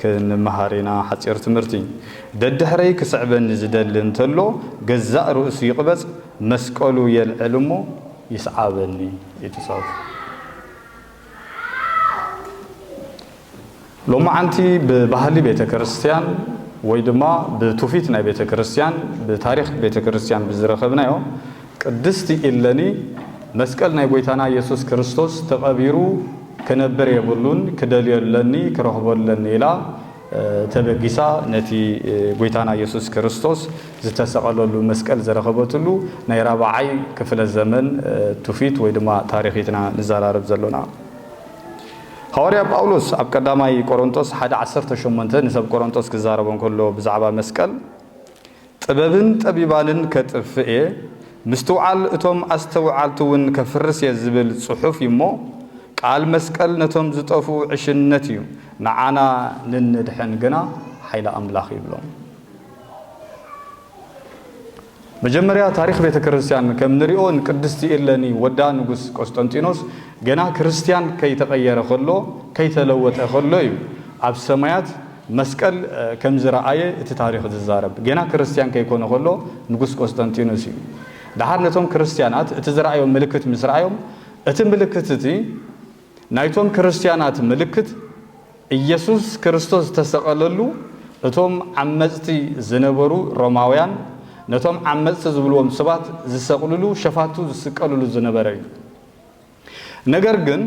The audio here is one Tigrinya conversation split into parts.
ክንመሃር ኢና ሓጺር ትምህርቲ። ደድሕረይ ክስዕበኒ ዝደሊ እንተሎ ገዛእ ርእሱ ይቕበጽ መስቀሉ የልዕል እሞ ይስዓበኒ እቲ ጸርፉ። ሎማዓንቲ ብባህሊ ቤተ ክርስቲያን ወይ ድማ ብቱፊት ናይ ቤተ ክርስቲያን ብታሪኽ ቤተ ክርስቲያን ብዝረኸብናዮ ቅድስቲ ኢለኒ መስቀል ናይ ጎይታና ኢየሱስ ክርስቶስ ተቐቢሩ ክነብር የብሉን ክደልዮ ኣለኒ ክረኽቦ ኣለኒ ኢላ ተበጊሳ ነቲ ጎይታና ኢየሱስ ክርስቶስ ዝተሰቐለሉ መስቀል ዝረኸበትሉ ናይ ራብዓይ ክፍለ ዘመን ቱፊት ወይ ድማ ታሪኽ ኢትና ንዘራረብ ዘሎና። ሃዋርያ ጳውሎስ ኣብ ቀዳማይ ቆሮንጦስ ሓደ ዓሰርተ ሸሞንተ ንሰብ ቆሮንጦስ ክዛረቦም ከሎ ብዛዕባ መስቀል ጥበብን ጠቢባንን ከጥፍእ እየ፣ ምስትውዓል እቶም ኣስተውዓልቲውን ከፍርስ እየ ዝብል ጽሑፍ እዩሞ፣ ቃል መስቀል ነቶም ዝጠፍኡ ዕሽነት እዩ፣ ንዓና ንንድሕን ግና ሓይሊ ኣምላኽ እዩ ብሎም። መጀመርያ ታሪኽ ቤተ ክርስቲያን ከም ንሪኦ ንቅድስቲ እለኒ ወዳ ንጉስ ቆስጠንጢኖስ ገና ክርስቲያን ከይተቐየረ ከሎ ከይተለወጠ ከሎ እዩ ኣብ ሰማያት መስቀል ከም ዝረኣየ እቲ ታሪኽ ዝዛረብ ገና ክርስትያን ከይኮነ ከሎ ንጉስ ቆስጠንጢኖስ እዩ። ደሓር ነቶም ክርስትያናት እቲ ዝረኣዮም ምልክት ምስ ረኣዮም እቲ ምልክት እቲ ናይቶም ክርስትያናት ምልክት ኢየሱስ ክርስቶስ ዝተሰቐለሉ እቶም ዓመጽቲ ዝነበሩ ሮማውያን ነቶም ዓመጽቲ ዝብልዎም ሰባት ዝሰቕልሉ ሸፋቱ ዝስቀልሉ ዝነበረ እዩ። ነገር ግን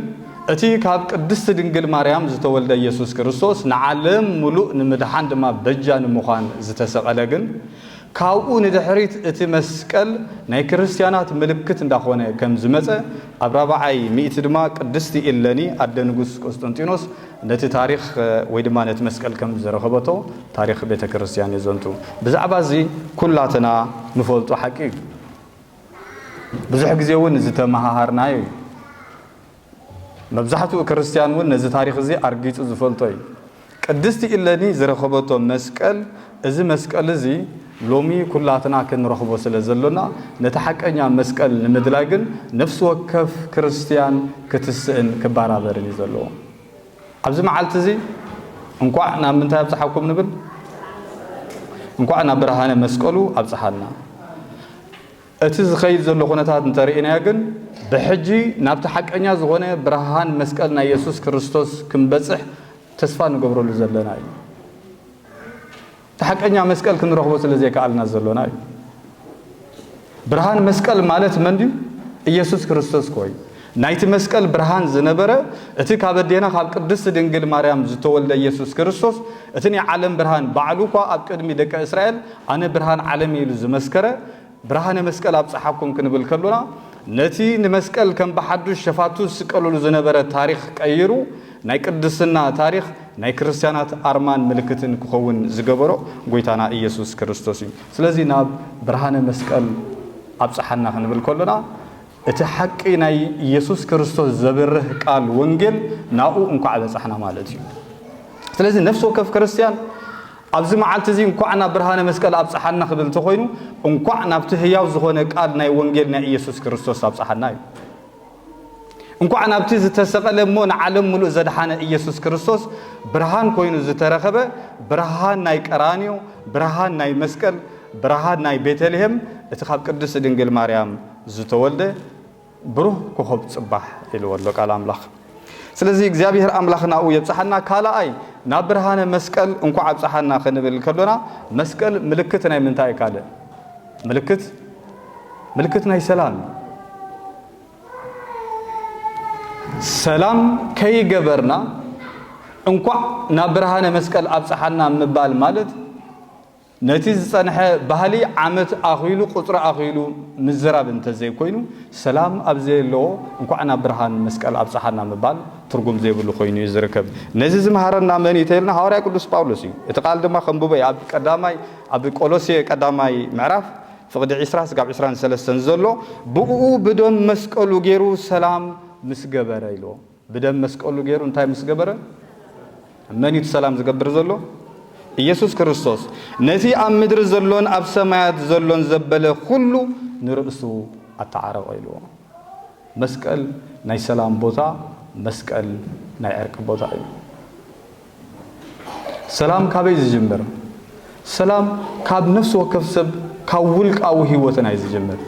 እቲ ካብ ቅድስቲ ድንግል ማርያም ዝተወልደ ኢየሱስ ክርስቶስ ንዓለም ምሉእ ንምድሓን ድማ በጃ ንምዃን ዝተሰቐለ ግን ካብኡ ንድሕሪት እቲ መስቀል ናይ ክርስትያናት ምልክት እንዳኾነ ከም ዝመጸ ኣብ ራብዓይ ሚእቲ ድማ ቅድስቲ ኢለኒ ኣደ ንጉስ ቁስጥንጢኖስ ነቲ ታሪኽ ወይ ድማ ነቲ መስቀል ከም ዝረኸበቶ ታሪኽ ቤተ ክርስትያን የዘንቱ ብዛዕባ እዚ ኩላትና ንፈልጦ ሓቂ እዩ። ብዙሕ ግዜ እውን ዝተመሃሃርናዮ እዩ። መብዛሕትኡ ክርስትያን እውን ነዚ ታሪኽ እዚ ኣርጊጹ ዝፈልጦ እዩ። ቅድስቲ ኢለኒ ዝረኸበቶ መስቀል፣ እዚ መስቀል እዚ ሎሚ ኩላትና ክንረኽቦ ስለ ዘሎና፣ ነቲ ሓቀኛ መስቀል ንምድላይ ግን ነፍሲ ወከፍ ክርስትያን ክትስእን ክበራበርን እዩ ዘለዎ። ኣብዚ መዓልቲ እዚ እንኳዕ ናብ ምንታይ ኣብፀሓኩም ንብል? እንኳዕ ናብ ብርሃነ መስቀሉ ኣብፀሓና። እቲ ዝኸይድ ዘሎ ኩነታት እንተርኢናዮ ግን ብሕጂ ናብቲ ሓቀኛ ዝኾነ ብርሃን መስቀል ናይ የሱስ ክርስቶስ ክንበፅሕ ተስፋ ንገብረሉ ዘለና እዩ። እቲ ሓቀኛ መስቀል ክንረኽቦ ስለ ዘይከኣልና ዘሎና እዩ። ብርሃን መስቀል ማለት መን ድዩ? ኢየሱስ ክርስቶስ ኮይ ናይቲ መስቀል ብርሃን ዝነበረ እቲ ካብ ኣዴና ካብ ቅድስቲ ድንግል ማርያም ዝተወልደ ኢየሱስ ክርስቶስ እቲ ናይ ዓለም ብርሃን ባዕሉ እኳ ኣብ ቅድሚ ደቂ እስራኤል ኣነ ብርሃን ዓለም ኢሉ ዝመስከረ ብርሃነ መስቀል ኣብጸሓኩም ክንብል ከሎና ነቲ ንመስቀል ከም ብሓዱሽ ሸፋቱ ዝስቀልሉ ዝነበረ ታሪኽ ቀይሩ ናይ ቅድስና ታሪኽ ናይ ክርስትያናት ኣርማን ምልክትን ክኸውን ዝገበሮ ጎይታና ኢየሱስ ክርስቶስ እዩ። ስለዚ ናብ ብርሃነ መስቀል ኣብጸሓና ክንብል ከሎና እቲ ሓቂ ናይ ኢየሱስ ክርስቶስ ዘብርህ ቃል ወንጌል ናብኡ እንኳዕ በጻሕና ማለት እዩ። ስለዚ ነፍሲ ወከፍ ክርስትያን ኣብዚ መዓልቲ እዚ እንኳዕ ናብ ብርሃነ መስቀል ኣብጽሓና ክብል እንተኾይኑ እንኳዕ ናብቲ ህያው ዝኾነ ቃል ናይ ወንጌል ናይ ኢየሱስ ክርስቶስ ኣብጽሓና እዩ። እንኳዕ ናብቲ ዝተሰቐለ እሞ ንዓለም ምሉእ ዘድሓነ ኢየሱስ ክርስቶስ ብርሃን ኮይኑ ዝተረኸበ ብርሃን ናይ ቀራንዮ፣ ብርሃን ናይ መስቀል፣ ብርሃን ናይ ቤተልሔም እቲ ካብ ቅድስቲ ድንግል ማርያም ዝተወልደ ብሩህ ኮኾብ ጽባሕ ኢልዎ ኣሎ ቃል ኣምላኽ ስለዚ እግዚኣብሄር ኣምላኽ ናብኡ የብጽሓና ካልኣይ ናብ ብርሃነ መስቀል እንኳዕ ኣብጽሓና ክንብል ከሎና መስቀል ምልክት ናይ ምንታይ እዩ ካልእ ምልክት ምልክት ናይ ሰላም እዩ ሰላም ከይገበርና እንኳዕ ናብ ብርሃነ መስቀል ኣብፀሓና ምባል ማለት ነቲ ዝጸንሐ ባህሊ ዓመት ኣኺሉ ቁጽሪ ኣኺሉ ምዝራብ እንተዘይኮይኑ ሰላም ኣብ ዘየለዎ እንኳዕ ናብ ብርሃን መስቀል ኣብጽሓና ምባል ትርጉም ዘይብሉ ኮይኑ እዩ ዝርከብ። ነዚ ዝመሃረና መን እዩ ተይልና ሃዋርያ ቅዱስ ጳውሎስ እዩ። እቲ ቃል ድማ ከንብቦ እየ ኣብ ቀዳማይ ኣብ ቆሎሴ ቀዳማይ ምዕራፍ ፍቕዲ ዕስራ ስጋብ ዕስራን ሰለስተን ዘሎ ብእኡ ብደም መስቀሉ ገይሩ ሰላም ምስ ገበረ ኢልዎ። ብደም መስቀሉ ገይሩ እንታይ ምስ ገበረ መን እዩ እቲ ሰላም ዝገብር ዘሎ? ኢየሱስ ክርስቶስ። ነቲ ኣብ ምድሪ ዘሎን ኣብ ሰማያት ዘሎን ዘበለ ኩሉ ንርእሱ ኣተዓረቐ ኢልዎ። መስቀል ናይ ሰላም ቦታ፣ መስቀል ናይ ዕርቂ ቦታ እዩ። ሰላም ካበይ ዝጅምር? ሰላም ካብ ነፍሲ ወከፍ ሰብ ካብ ውልቃዊ ህይወትና እዩ ዝጅምር።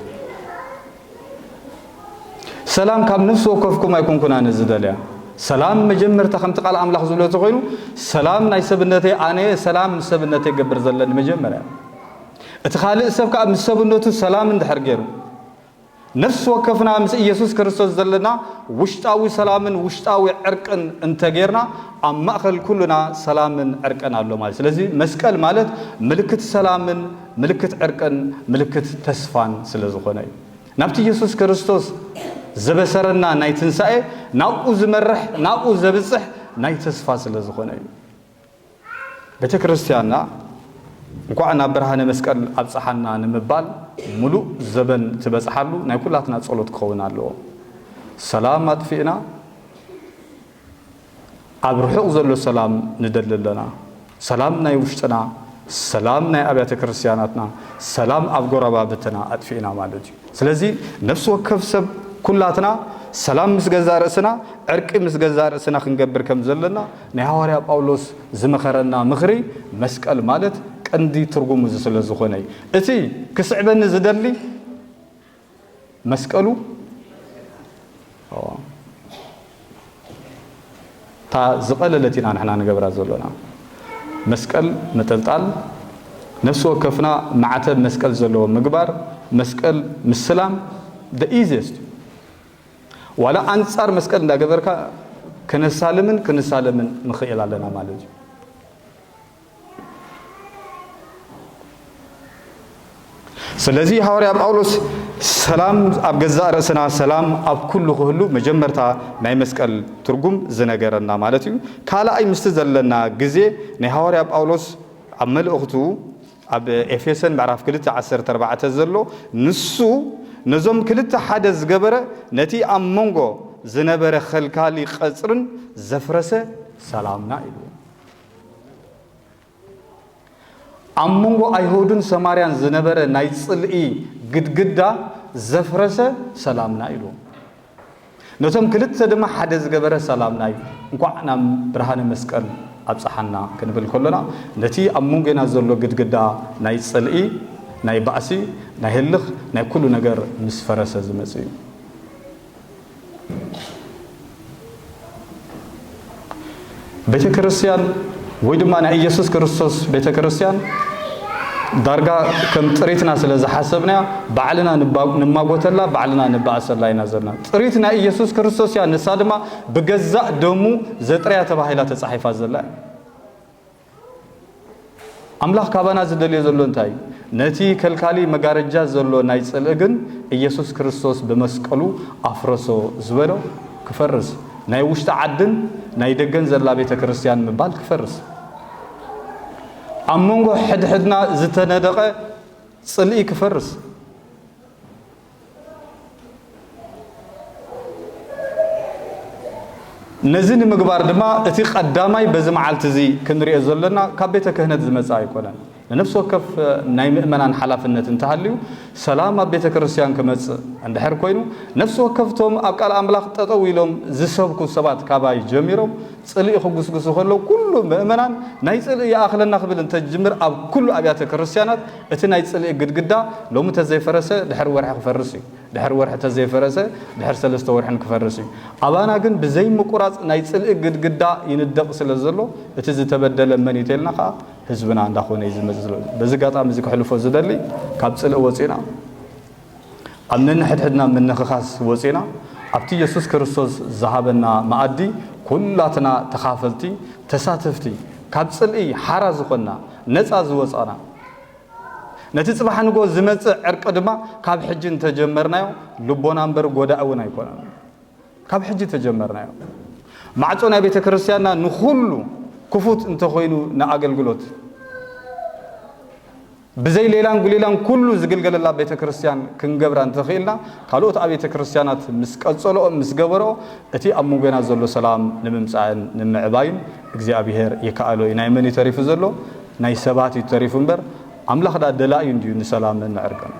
ሰላም ካብ ነፍሲ ወከፍኩም ኣይኮንኩን ኣነ ዝደልያ ሰላም መጀመርታ ከምቲ ቃል ኣምላኽ ዝብሎ ተኮይኑ ሰላም ናይ ሰብነተይ ኣነ ሰላም ምስ ሰብነተይ ገብር ዘለኒ መጀመርያ እቲ ካልእ ሰብ ከዓ ምስ ሰብነቱ ሰላም እንድሕር ገይሩ ነፍሲ ወከፍና ምስ ኢየሱስ ክርስቶስ ዘለና ውሽጣዊ ሰላምን ውሽጣዊ ዕርቅን እንተጌርና ኣብ ማእኸል ኩልና ሰላምን ዕርቅን ኣሎ ማለት ስለዚ መስቀል ማለት ምልክት ሰላምን ምልክት ዕርቅን ምልክት ተስፋን ስለ ዝኾነ እዩ ናብቲ ኢየሱስ ክርስቶስ ዘበሰረና ናይ ትንሣኤ ናብኡ ዝመርሕ ናብኡ ዘብጽሕ ናይ ተስፋ ስለ ዝኾነ እዩ ቤተክርስቲያንና እንኳዕ ናብ ብርሃነ መስቀል ኣብጽሓና ንምባል ምሉእ ዘበን ትበጽሓሉ ናይ ኩላትና ጸሎት ክኸውን ኣለዎ። ሰላም ኣጥፊእና ኣብ ርሑቕ ዘሎ ሰላም ንደሊ ኣለና። ሰላም ናይ ውሽጥና፣ ሰላም ናይ ኣብያተ ክርስቲያናትና፣ ሰላም ኣብ ጎረባብትና ኣጥፊእና ማለት እዩ። ስለዚ ነፍሲ ወከፍ ሰብ ኩላትና ሰላም ምስ ገዛእ ርእስና ዕርቂ ምስ ገዛእ ርእስና ክንገብር ከም ዘለና ናይ ሃዋርያ ጳውሎስ ዝመኸረና ምኽሪ መስቀል ማለት ቀንዲ ትርጉሙ እዚ ስለ ዝኾነ እዩ። እቲ ክስዕበኒ ዝደሊ መስቀሉ እታ ዝቐለለት ኢና ንሕና ንገብራ ዘሎና። መስቀል ምጥልጣል፣ ነፍሲ ወከፍና ማዕተብ መስቀል ዘለዎ ምግባር፣ መስቀል ምስላም the easiest እዩ። ዋላ ኣንጻር መስቀል እንዳገበርካ ከነሳልምን ክንሳለምን ንኽእል ኣለና ማለት እዩ። ስለዚ ሃዋርያ ጳውሎስ ሰላም ኣብ ገዛእ ርእስና ሰላም ኣብ ኩሉ ክህሉ መጀመርታ ናይ መስቀል ትርጉም ዝነገረና ማለት እዩ ካልኣይ ምስቲ ዘለና ግዜ ናይ ሃዋርያ ጳውሎስ ኣብ መልእኽቱ ኣብ ኤፌሰን ምዕራፍ 2 14 ዘሎ ንሱ ነዞም ክልተ ሓደ ዝገበረ ነቲ ኣብ መንጎ ዝነበረ ኸልካሊ ቐፅርን ዘፍረሰ ሰላምና ኢሉ ኣብ መንጎ ኣይሁድን ሰማርያን ዝነበረ ናይ ጽልኢ ግድግዳ ዘፍረሰ ሰላምና ኢሉ ነቶም ክልተ ድማ ሓደ ዝገበረ ሰላምና እዩ እንኳዕ ናብ ብርሃነ መስቀል ኣብፀሓና ክንብል ከሎና ነቲ ኣብ መንጎና ዘሎ ግድግዳ ናይ ፅልኢ ናይ ባእሲ ናይ ህልኽ ናይ ኩሉ ነገር ምስ ፈረሰ ዝመፅ እዩ ቤተ ክርስቲያን ወይ ድማ ናይ ኢየሱስ ክርስቶስ ቤተ ክርስቲያን ዳርጋ ከም ጥሪትና ስለ ዝሓሰብናያ ባዕልና ንማጎተላ ባዕልና ንባእሰላ ኢና ዘለና ጥሪት ናይ ኢየሱስ ክርስቶስ እያ ንሳ ድማ ብገዛእ ደሙ ዘጥርያ ተባሂላ ተጻሒፋ ዘላ ኣምላኽ ካባና ዝደልዮ ዘሎ እንታይ እዩ? ነቲ ከልካሊ መጋረጃ ዘሎ ናይ ጽልኢ ግን ኢየሱስ ክርስቶስ ብመስቀሉ ኣፍረሶ ዝበሎ ክፈርስ፣ ናይ ውሽጢ ዓድን ናይ ደገን ዘላ ቤተ ክርስቲያን ምባል ክፈርስ፣ ኣብ መንጎ ሕድሕድና ዝተነደቐ ጽልኢ ክፈርስ፣ ነዚ ንምግባር ድማ እቲ ቀዳማይ በዚ መዓልቲ እዚ ክንሪኦ ዘለና ካብ ቤተ ክህነት ዝመጽእ ኣይኮነን። ንነፍሲ ወከፍ ናይ ምእመናን ሓላፍነት እንተሃልዩ ሰላም ኣብ ቤተ ክርስቲያን ክመጽእ እንድሕር ኮይኑ ነፍሲ ወከፍቶም ኣብ ቃል ኣምላኽ ጠጠው ኢሎም ዝሰብኩ ሰባት ካባይ ጀሚሮም ጽልኢ ክጉስጉሱ ከለዉ ኩሉ ምእመናን ናይ ጽልኢ ይኣኽለና ክብል እንተጅምር ኣብ ኩሉ ኣብያተ ክርስቲያናት እቲ ናይ ጽልኢ ግድግዳ ሎሚ ተዘይፈረሰ ድሕሪ ወርሒ ክፈርስ እዩ፣ ድሕሪ ወርሒ ተዘይፈረሰ ድሕሪ ሰለስተ ወርሕን ክፈርስ እዩ። ኣባና ግን ብዘይ ምቁራጽ ናይ ጽልኢ ግድግዳ ይንደቕ ስለ ዘሎ እቲ ዝተበደለ መን እዩ ተልና ከኣ ህዝብና እንዳኾነ እዩ ዝመጽእ። በዚ ኣጋጣሚ እዚ ክሕልፎ ዝደሊ ካብ ጽልኢ ወጺእና፣ ካብ ነንሕድሕድና ምንኽኻስ ወጺእና ኣብቲ የሱስ ክርስቶስ ዝሃበና መኣዲ ኩላትና ተኻፈልቲ፣ ተሳተፍቲ፣ ካብ ጽልኢ ሓራ ዝኾንና፣ ነጻ ዝወጻና፣ ነቲ ጽባሕ ንግሆ ዝመጽእ ዕርቂ ድማ ካብ ሕጂ እንተጀመርናዮ ልቦና እምበር ጎዳኢ እውን ኣይኮነን። ካብ ሕጂ ተጀመርናዮ። ማዕጾ ናይ ቤተ ክርስቲያንና ንኹሉ ክፉት እንተኾይኑ ንኣገልግሎት ብዘይ ሌላን ጉሌላን ኩሉ ዝግልገለላ ቤተ ክርስቲያን ክንገብራ እንተኽኢልና ካልኦት ኣብየተ ክርስቲያናት ምስ ቀጸልኦ ምስ ገበርኦ እቲ ኣብ ምንጎና ዘሎ ሰላም ንምምጻእን ንምምዕባይን እግዚኣብሔር ይከኣሎ እዩ ናይ መን እዩ ተሪፉ ዘሎ ናይ ሰባት እዩ ተሪፉ እምበር ኣምላኽ ደኣ ደላዩ እንድዩ ንሰላምን ንዕርቅን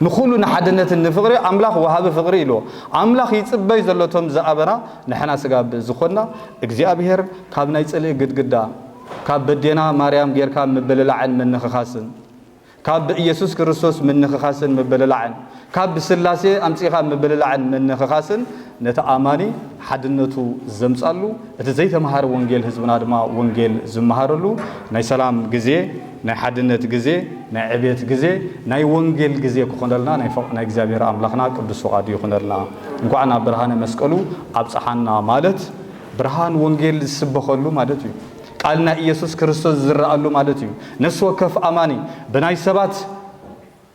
ንኹሉ ንሓድነትን ንፍቕሪ ኣምላኽ ወሃቢ ፍቕሪ ኢልዎ። ኣምላኽ ይጽበይ ዘሎ እቶም ዝኣበና ንሕና ስጋ ብዝኾንና እግዚኣብሔር ካብ ናይ ጽልኢ ግድግዳ ካብ በዴና ማርያም ጌርካ ምብልላዕን ምንኽኻስን ካብ ብኢየሱስ ክርስቶስ ምንኽኻስን ምብልላዕን ካብ ብስላሴ ኣምጺእኻ ምብልላዕን ምንኽኻስን ነቲ ኣማኒ ሓድነቱ ዘምጻሉ እቲ ዘይተመሃረ ወንጌል ህዝብና ድማ ወንጌል ዝመሃረሉ ናይ ሰላም ግዜ፣ ናይ ሓድነት ግዜ፣ ናይ ዕብየት ግዜ፣ ናይ ወንጌል ግዜ ክኾነልና ናይ እግዚኣብሔር ኣምላኽና ቅዱስ ፍቓዱ ይኹነልና። እንኳዕ ናብ ብርሃነ መስቀሉ ኣብጽሓና ማለት ብርሃን ወንጌል ዝስበኸሉ ማለት እዩ። ቃል ናይ ኢየሱስ ክርስቶስ ዝዝረኣሉ ማለት እዩ። ነፍሲ ወከፍ ኣማኒ ብናይ ሰባት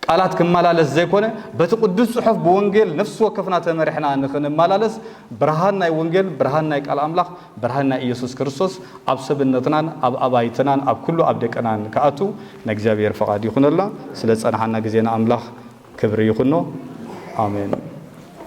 ቃላት ክመላለስ ዘይኮነ በቲ ቅዱስ ጽሑፍ ብወንጌል ነፍሲ ወከፍና ተመሪሕና ንኽንመላለስ ብርሃን ናይ ወንጌል ብርሃን ናይ ቃል ኣምላኽ ብርሃን ናይ ኢየሱስ ክርስቶስ ኣብ ሰብነትናን ኣብ ኣባይትናን ኣብ ኩሉ ኣብ ደቅናን ክኣቱ ናይ እግዚኣብሔር ፈቓድ ይኹነልና ስለ ዝጸናሓና ግዜ ንኣምላኽ ክብሪ ይኹኖ ኣሜን።